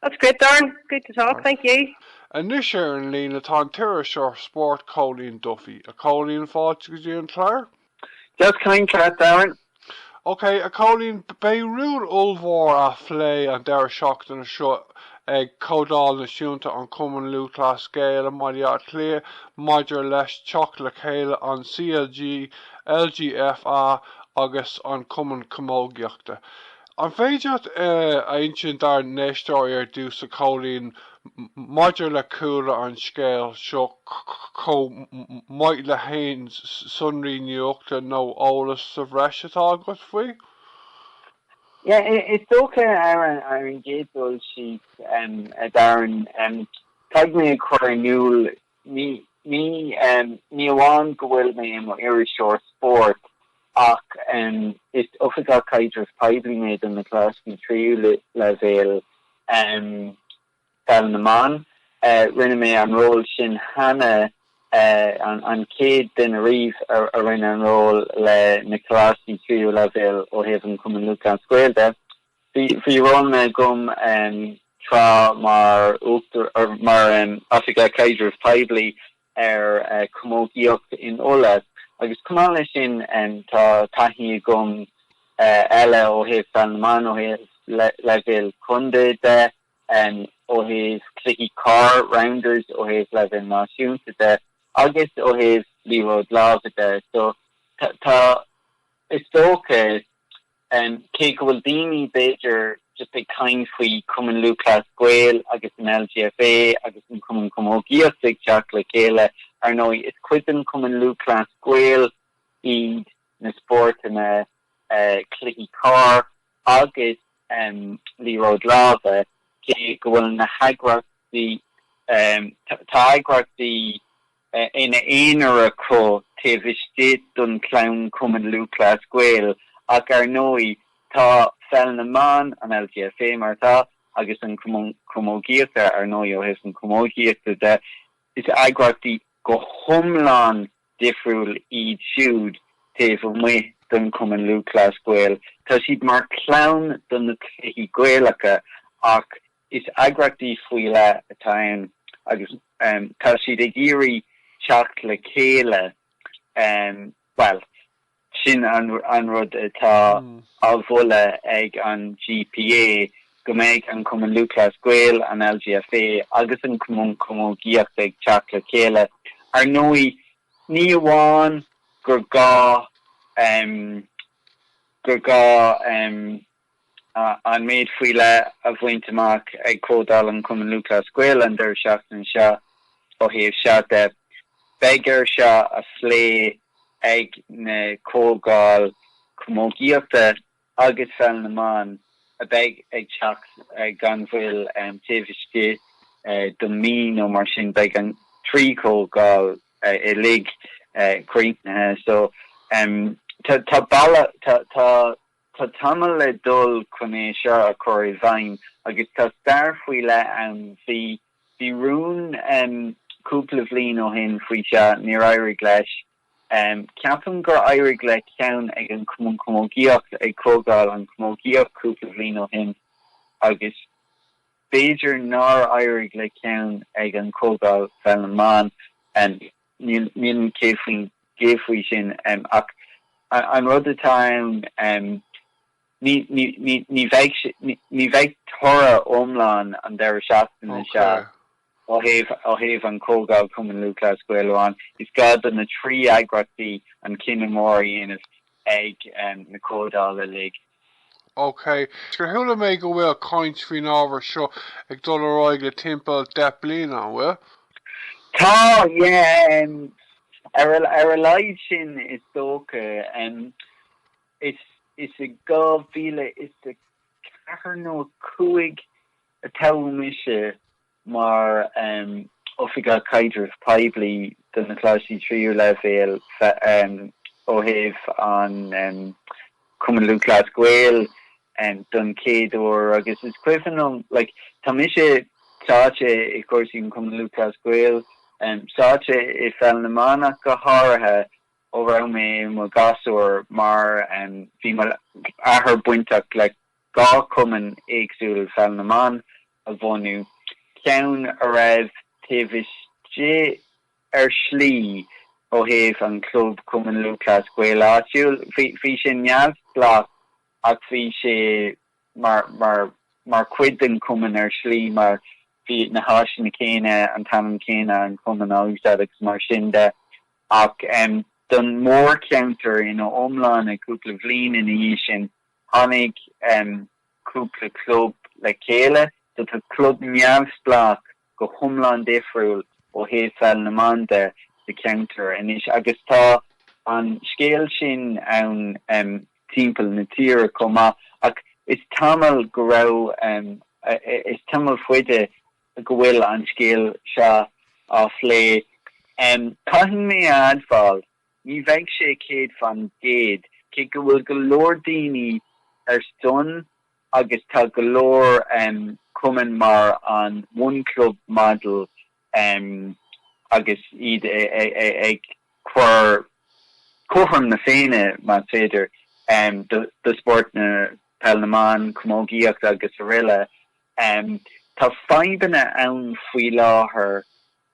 That's great Darren, good to talk, thank you. Anois ar an líne tá an t-iriseoir spóirt Cóilín Duffy. A Chóilín, fáilte go dtí an clár. Deas caint leat Darren. Ok, a Chóilín, beidh rún ollmhór á phlé an deireadh seachtaine seo ag Comhdháil Náisiúnta an Chumainn Lúthchleas Gael i mBaile Átha Cliath maidir leis teacht le chéile an CLG, LGFA agus an Chumainn Chamógaíochta. An féidir leat a insint dár n-éisteoirí ar dtús, a Chóilín, maidir le cúlra an scéil seo chomh maith le haon sonraí nuachta nó eolas sa bhreis atá agat faoi? Is dócha, ar an gcéad dul síos, a Darren, caithfidh mé a chur in iúl Ní amháin go bhfuil mé i mo iriseoir spóirt ach is Oifigeach Caidrimh Poiblí mé do na coláistí tríú leibhéal Pheil na mBan. Rinne mé an ról sin cheana, an chéad duine riamh a rinne an ról leis na coláistí tríú leibhéal ó thaobh an Cumann Lúthchleas Gael de. Bhí ról agam tráth mar Oifigeach Caidrimh Poiblí ar chamógaíocht in Uladh agus chomh maith leis sin tá taithí agam eile ó thaobh Pheil na mBan ó thaobh leibhéal contae de, ó thaobh cluichí corr, rounders, ó thaobh leibhéal náisiúnta de agus ó thaobh liathróid láimhe de. So tá, is dócha. Cé go bhfuil daoine, b'fhéidir, just ag caint faoi Chumann Lúthchleas Gael agus an LGFA agus an Cumann Camógaíochta ag teacht le chéile, ar ndóigh, is cuid den Chumann Lúthchleas Gael iad na spórtanna cluichí corr agus liathróid láimhe, cé go bhfuil na heagraíocht, tá eagraíochtaí. ina n-aonar acu taobh istigh den chlann Cumann Lúthchleas Gael ach ar ndóigh tá Pheil na mBan, an LGFA mar atá, agus an Cumann Camógaíochta, ar ndóigh ó thaobh na camógaíochta de, is eagraíochtaí go hiomlán difriúil iad siúd taobh amuigh den Chumann Lúthchleas Gael. Tá siad mar chlann do na cluichí Gaelacha ach. Is eagraíochtaí faoi leith atá ann agus tá siad ag iarraidh teacht le chéile, bhuel, sin an rud atá á moladh ag an GPA, go mbeidh an Cumann Lúthchleas Gael, an LGFA agus an Cumann Camógaíochta ag teacht le chéile. Ar ndóigh, ní amháin gur gá, gur gá. an méid faoi leith a bhaint amach ag Comhdháil an Chumainn Lúthchleas Gael an deireadh seachtaine seo ó thaobh seo de. Beidh air seo a phlé ag na comhdháil chamógaíochta agus pheil na mban a bheidh ag teacht gan mhoill taobh istigh de mhí nó mar sin. Beidh an trí chomhdháil uilig críochnaithe so tá bealach Tá tamall le dul chun é seo a chur i bhfeidhm agus tá stair faoi leith ann. Bhí, bhí rún cúpla bhliain ó shin faoi seo, níor éirigh leis. Ceapaim gur éirigh le ceann ag an Chamógaíocht ag Comhdháil an Chamógaíocht cúpla bhliain ó shin agus b'fhéidir nár éirigh le ceann ag an Comhdháil Pheil na mBan. Níl mé 100% faoi sin ach an rud atá ann ní bheidh toradh iomlán an deireadh seachtaine seo ó thaobh an Chomhdháil Chumann Lúthchleas Gael amháin, is gá do na trí eagraíochtaí an cinneadh mór a dhéanamh ag na comhdháil uilig. OK, gur chuala mé go bhfuil caint faoin ábhar seo ag dul ar aghaidh le timpeall deich bliana, an bhfuil? Tá, yeah, ar a laghad sin is dócha. Is i 2004 nó 5 a toghadh mise mar Oifigeach Caidrimh Poiblí do na Coláistí Tríú Leibhéal ó thaobh an Chumann Lúthchleas Gael don chéad uair agus is cuimhin liom like tá mise sáite i gcúrsaí an Chumann Lúthchleas Gael, sáite i Pheil na mBan ach go háirithe ó raibh mé i mo ghasúr mar bhí mo athair bainteach le dhá chumann éagsúil Pheil na mBan a bhunú, ceann a raibh taobh istigh, ar shlí, ó thaobh an Chlub Cumann Lúthchleas Gael áitiúil, bhí sé neamhspleách ach bhí sé mar chuid den chumann ar shlí mar bhí na háiseanna céanna, an t-ainm céanna, an cumann á úsáid agus mar sin de. Ach don mhórcheantar ina iomláine, cúpla bhliain ina dhiaidh sin, tháinig. cúpla club le chéile. So tá club neamhspleách go hiomlán difriúil ó thaobh pheil na mban de sa cheantar anois agus tá an scéal sin ann timpeall na tíre chomh maith ach is tamall go raibh, is tamall faide go bhfuil an scéal seo á phlé. Caithfidh mé a admháil Ní bheidh sé céad fan gcéad, cé go bhfuil go leor daoine ar son agus tá go leor cumainn mar an One Club Model agus iad ag cur cothrom na féinne, mar b'fhéidir, do spóirt na Peil na mBan, Camógaíocht agus aroile. Tá fadhbanna ann faoi láthair.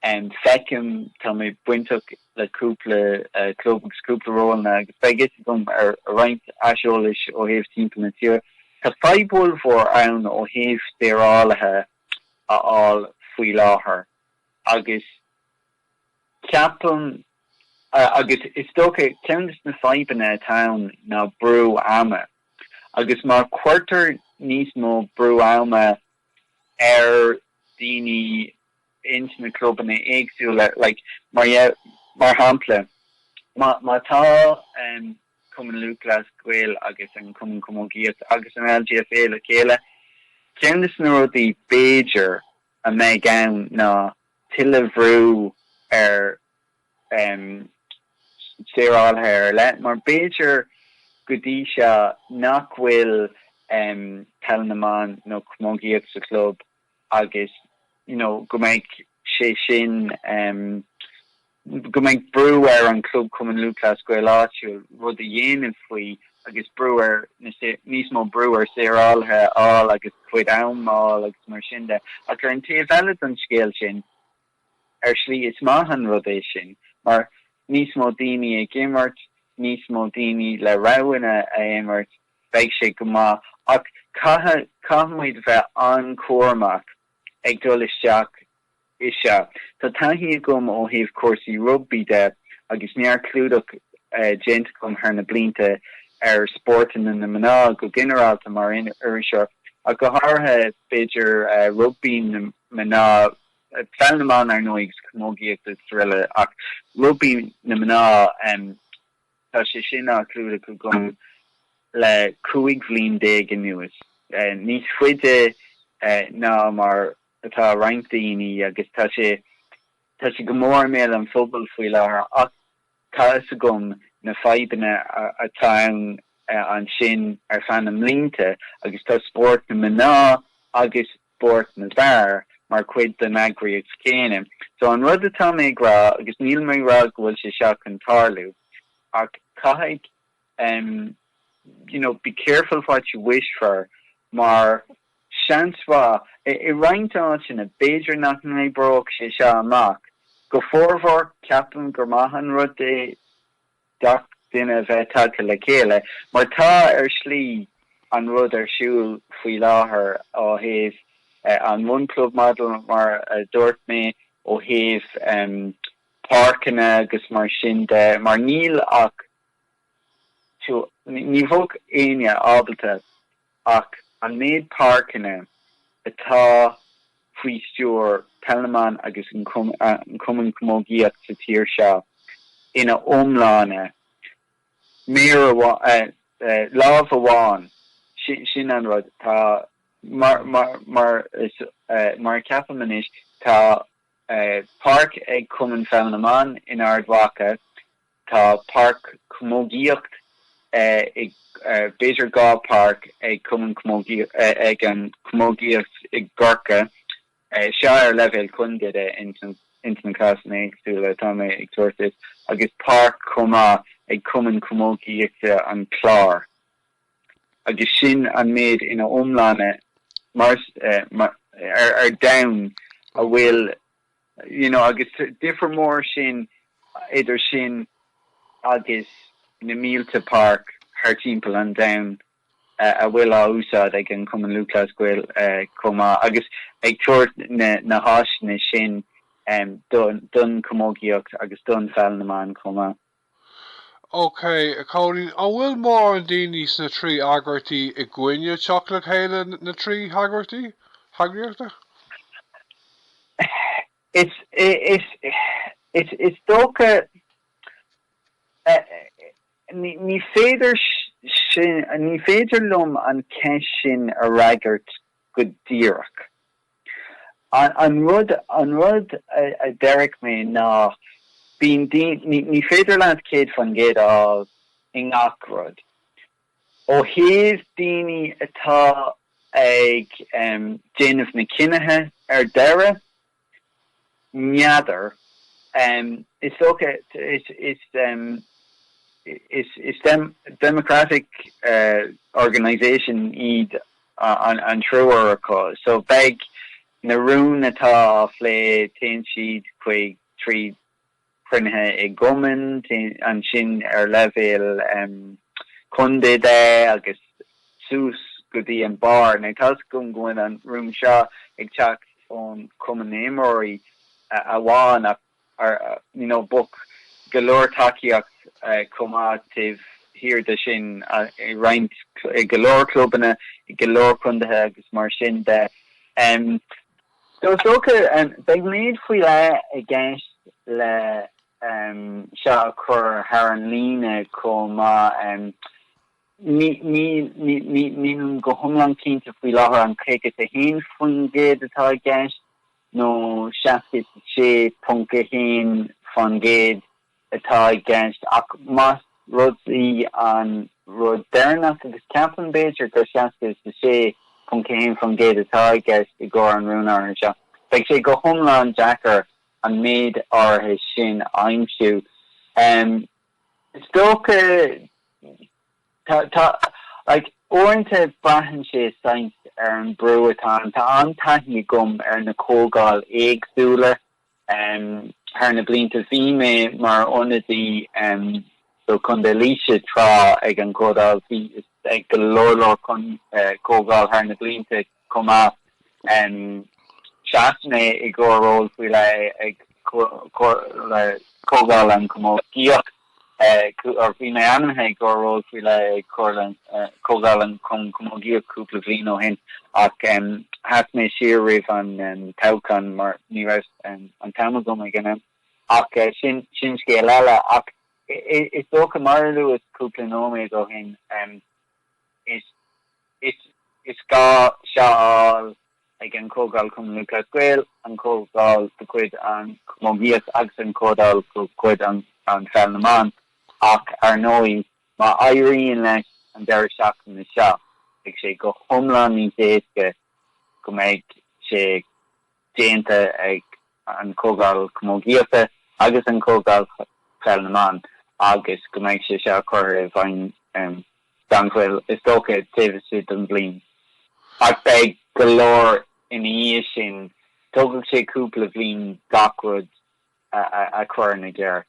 em feicim tá mé bainteach le cúpla club agus cúpla rólanna agus beidh fhios agam ar roinnt aiseolais ó thaobh timpeall na tíre. Tá fadhb ollmhór ann ó thaobh deonálaithe a fháil faoi láthair agus ceapaim agus is dócha ceann de na fadhbanna atá ann ná brú ama agus má cuirtear níos mó brú ama ar dhaoine ins na clubanna éagsúla like mar mar shampla má má tá em Cumann Lúthchleas Gael agus an Cumann Camógaíochta agus an LGFA le chéile ceann de na rudaí b'fhéidir a mbeidh ann ná tuilleadh bhrú ar em saorálaithe ar leith mar b'fhéidir go dtí seo nach bhfuil em peil na mban nó camógaíocht sa chlub agus you know go mbeidh sé sin em go mbeidh brú ar an Club Cumann Lúthchleas Gael áitiúil rud a dhéanamh faoi agus brú ar na níos mó brú ar saorálaithe a fháil agus a gcuid am a fháil agus mar sin de ach ar an taobh eile don scéal sin ar slí is maith an rud é sin mar níos mó daoine ag imirt níos mó daoine le roghanna a imirt Beidh sé go maith ach caithfimid a bheith an-chúramach ag dul isteach i seo. Tá taithí agam ó thaobh cúrsaí rugbaí de agus neart clúdach déanta agam thar na blianta ar spórtanna na mná go ginearálta mar iriseoir ach go háirithe b'fhéidir rugbaí na mná, peil na mban, ar ndóigh, agus camógaíocht agus rl ach rugbaí na mná. Tá sé sin á chlúdach agam le 15 bhliain anuas, níos faide ná mar atá roinnt daoine, agus tá sé tá sé go mór i mbéal an phobail faoi láthair ach tá fhios agam na fadhbanna atá ann ansin ar feadh na mblianta agus tá spórt na mná agus spóirt na bhfear mar chuid den eagraíocht chéanna. So an rud atá mé ag rá, agus níl mé ag rá go bhfuil sé seo chun tarlú, ach caithfidh em you know be careful what you wish for mar seans mhaith i roinnt áiteanna b'fhéidir nach n-oibreoidh sé seo amach go formhór ceapaim gur maith an rud é gach duine a bheith tagtha le chéile, mar tá, ar shlí, an rud ar siúl faoi láthair ó thaobh an one club model, mar a dúirt mé, ó thaobh páirceanna agus mar sin de, mar níl ach, ní bheadh éinne ábalta Ach an méid páirceanna atá faoi stiúir Peil na mBan agus an Cumann Camógaíocht sa tír seo ina iomláine, méar amháin, lámh amháin, sin an rud. Tá mar a cheapaim anois, tá páirc ag Cumann Pheil na mBan in Ard Mhacha Tá páirc camógaíocht ag b'fhéidir dhá páirc ag cumann ag an camógaíocht i gCorcaigh seo ar leibhéal contae de, ins na cásanna éagsúla atá mé ag tabhairt duit agus páirc chomh maith ag cumann camógaíochta an Chláir agus sin an méid ina iomláine mar ar domhan a bhfuil You know, agus tá difear mór ansin idir sin agus na mílte páirc thar timpeall an domhain a bhfuil á úsáid ag an Cumann Lúthchleas Gael chomh maith, agus ag tabhairt na háiseanna sin don camógaíocht agus do Pheil na mBan chomh maith. OK, a Chóilín, an bhfuil mórán daoine sna trí eagraíochtaí i gcoinne teacht le chéile na trí heagraíochtaí, heagraíochta? Is dócha, ní féidir sin, ní féidir liom an cheist sin a fhreagairt go díreach. An rud, an rud a déarfadh mé ná bíonn, ní féidir leat céad fan gcéad a fháil i ngach rud. Ó thaobh daoine atá ag déanamh na cinnithe ar deireadh, N'fheadar. Is dócha, is, is, is democratic organisation iad an triúr acu so beidh na rúin atá á phlé, téann siad chuig, trí, cruinnithe i gcumainn, ansin ar leibhéal contae de, agus suas go dtí an barr. Tá fhios agam go bhfuil an rún seo ag teacht ón Cumann na nImreoirí amháin ach you know bheadh go leor tacaíocht chomh maith taobh thiar de sin i roinnt, i go leor clubanna, i go leor contaetha agus mar sin de. Is dócha beidh méid faoi leith i gceist le seo a chur thar an líne chomh maith. Nílim go hiomlán cinnte faoi láthair an 51% atá i gceist nó 66.1 fán gcéad. atá i gceist, ach más rud í an rud deireanach, agus ceapaim, b'fhéidir, gur 66.1% atá i gceist i gcomhair an rúin áirithe seo, beidh sé go hiomlán deacair an méid áirithe sin a aimsiú. Is dócha, tá, tá, like, uaireanta braitheann sé, seans, ar an brú atá ann. Tá an-taithí agam ar na comhdháil éagsúla. Thar na blianta bhí mé mar ionadaí do Chontae Laoise tráth ag an gComhdháil. Bhí ag go leor leor chun comhdháil thar na blianta chomh maith. Sheas mé i gcomhair ról faoi leith ag Comhdháil an Chamógaíocht. Bhí mé ainmnithe i gcomhair ról faoi leith ag Comhdháil an Chamógaíocht cúpla bhliain ó shin ach sheas mé siar roimh an toghchán mar ní raibh an t-am agam ag an am. Ach sin scéal eile. Ach is dócha, mar a luas cúpla nóiméad ó shin, is gá seo a fháil. ag an Chomhdháil Chumann Lúthchleas Gael, an Chomhdháil de chuid an Chamógaíocht agus an Chomhdháil de chuid an Pheil na mBan ach, ar ndóigh, má éiríonn leis an deireadh seachtaine seo, beidh sé go hiomlán níos éasca go mbeidh sé déanta ag an Chomhdháil Chamógaíochta agus an Chomhdháil Pheil na mBan agus go mbeidh sé seo curtha i bhfeidhm. gan mhoill, is dócha, taobh istigh den bhliain. Ach beidh go leor ina dhiaidh sin. Tógfaidh sé cúpla bhliain gach rud a chur ina gceart.